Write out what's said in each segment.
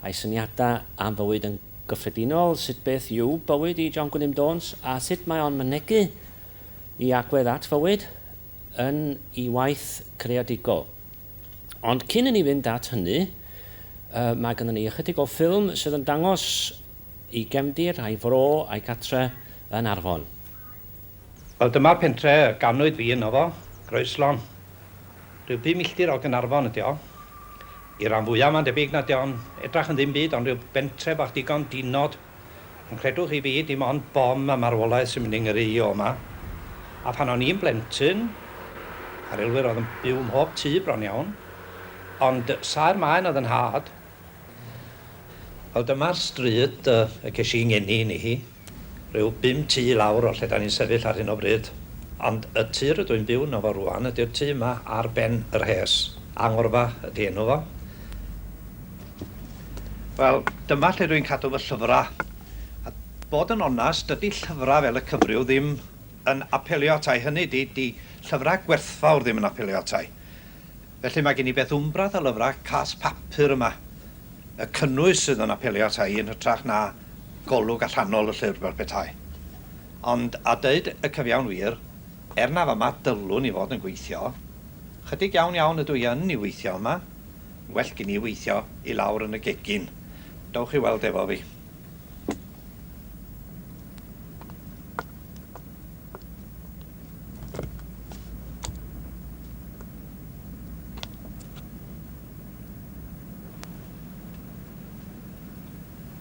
a'i syniadau am fywyd yn gyffredinol, sut beth yw bywyd i John Gwilym Jones a sut mae o'n mynegi i agwedd at fywyd yn ei waith creadigol. Ond cyn i ni fynd at hynny, mae gynnon ni ychydig o ffilm sydd yn dangos ei gefndir, a'i fro a'i gartre yn Arfon. Wel dyma'r pentre y ganwyd fi yno fo, Groeslon. Rhyw bum milltir o Gaernarfon ydi o. I'r ran fwya mae'n debyg nad dio'n edrach yn ddim byd ond rhyw bentre bach digon dinod. Ond credwch i fi, dim ond bom a marwolaeth sy'n mynd i ngyrru i o 'ma. A phan o'n i'n blentyn, a relwyr oedd yn byw mhob tŷ bron iawn. Ond saer maen oedd yn nhad. Wel dyma'r stryd y ces i 'ngeni yni hi. Rhyw bum tŷ i lawr o lle 'da ni'n sefyll ar hyn o bryd. Ond y tŷ rydw i'n byw yno fo rŵan ydy'r tŷ yma ar ben yr hes. Angorfa ydy enw fo. Wel, dyma lle rwy'n cadw fy llyfrau. A bod yn onast, dydy llyfrau fel y cyfryw ddim yn apelio ata i, hynny ydy, 'di llyfrau gwerthfawr ddim yn apelio ata i. Felly mae gen i beth wmbrath o lyfrau cas papur yma. Y cynnwys sydd yn apelio ata i yn hytrach na golwg allanol y llyfr fel petai. Ond, a deud y cyfiawn wir, er na fama dylwn i fod yn gweithio, 'chydig iawn iawn ydw i yn i weithio yma, well gin i weithio i lawr yn y gegin, dowch i weld efo fi.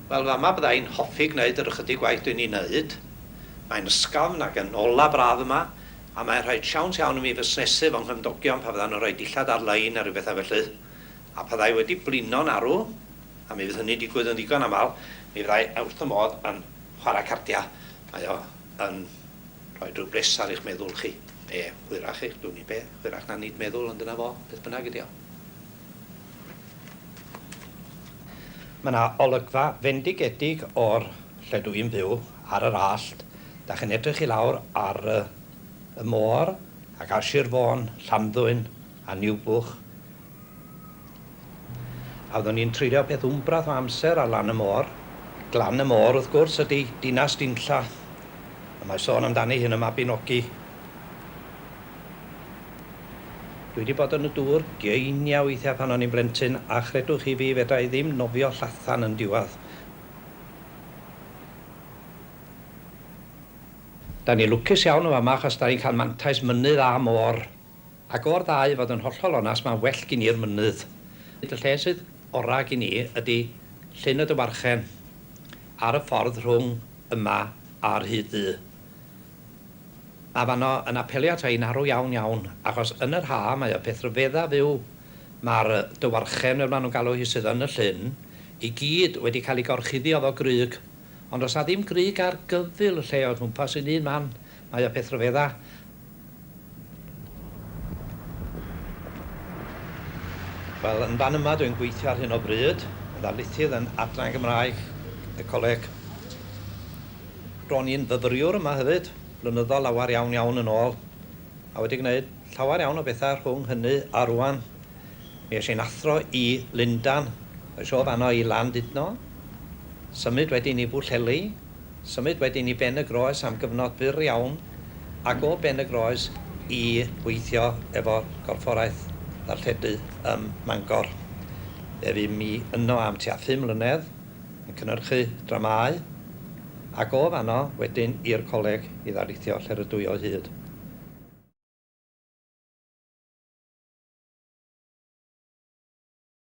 Wel, fama bydda i'n hoffi gwneud yr ychydig waith dwi'n ei wneud. Mae'n ysgafn ac yn olau braf yma, a mae'n rhaid siawns iawn i mi fusnesu fy nghymdogion pan fyddan nhw'n rhoi dillad ar-lein neu rywbethau felly. A pan fydda i wedi blino'n arw, A mi fydd hynny'n digwydd yn ddigon aml, mi fyddai e wrth y modd yn chwarae cardiau, mae o yn rhoi rhyw bres ar eich meddwl chi, neu hwyrach eich dwn i be, hwyrach na nid meddwl, ond dyna fo, beth bynnag ydy o. Mae yna olygfa fendigedig o'r lle dw i'n byw, ar yr allt, dach chi'n edrych i lawr ar y môr ac ar Sir Fôn, Llanddwyn a Niwbwch, A oeddwn i'n treulio peth wmbrath o amser ar lan y môr. Glan y Môr, wrth gwrs, ydy dinas Dinlla. A mae sôn amdani hi yn y Mabinogi. Dwi wedi bod yn y dŵr geiniau weithiau pan o'n i'n blentyn, a chredwch chi fi, fedra i ddim nofio llathan yn diwadd. Da ni'n lwcus iawn yn fama achos da ni'n cael mantais mynydd a môr. Ac o'r ddau, fod yn hollol onast, mae'n well gin i'r mynydd. Y lle sydd orau gin i ydy Llyn y Dywarchen, ar y ffordd rhwng yma a Rhyd Ddu. Mae fanno yn apelio ata i'n arw iawn iawn, achos yn yr haf mae y peth rhyfedda fyw, mae'r Dywarchen, fel maen nhw'n galw hi, sydd yn y llyn, i gyd wedi cael ei gorchuddio efo grug. Ond os na ddim grug ar gyfyl y lle o gwmpas un un man, mae y peth rhyfedda. Wel, yn fan yma dwi'n gweithio ar hyn o bryd, yn ddarlithydd yn Adran Gymraeg y Coleg. Ro'n i'n fyfyriwr yma hefyd, blynyddoedd lawer iawn iawn yn ôl, a wedi gwneud llawer iawn o bethau rhwng hynny a rŵan. Mi es i'n athro i Lundan, es o fan'no i Landudno, symud wedyn i Bwllheli, Symud wedyn i Ben-y-groes am gyfnod byr iawn ac o Ben-y-groes i weithio efo Corfforaeth Ddarlledu ym Mangor. Fe fu mi yno am tua phum mlynedd yn cynyrchu dramâu ac o fanno wedyn i'r Coleg i ddarlithio lle rydw i o hyd.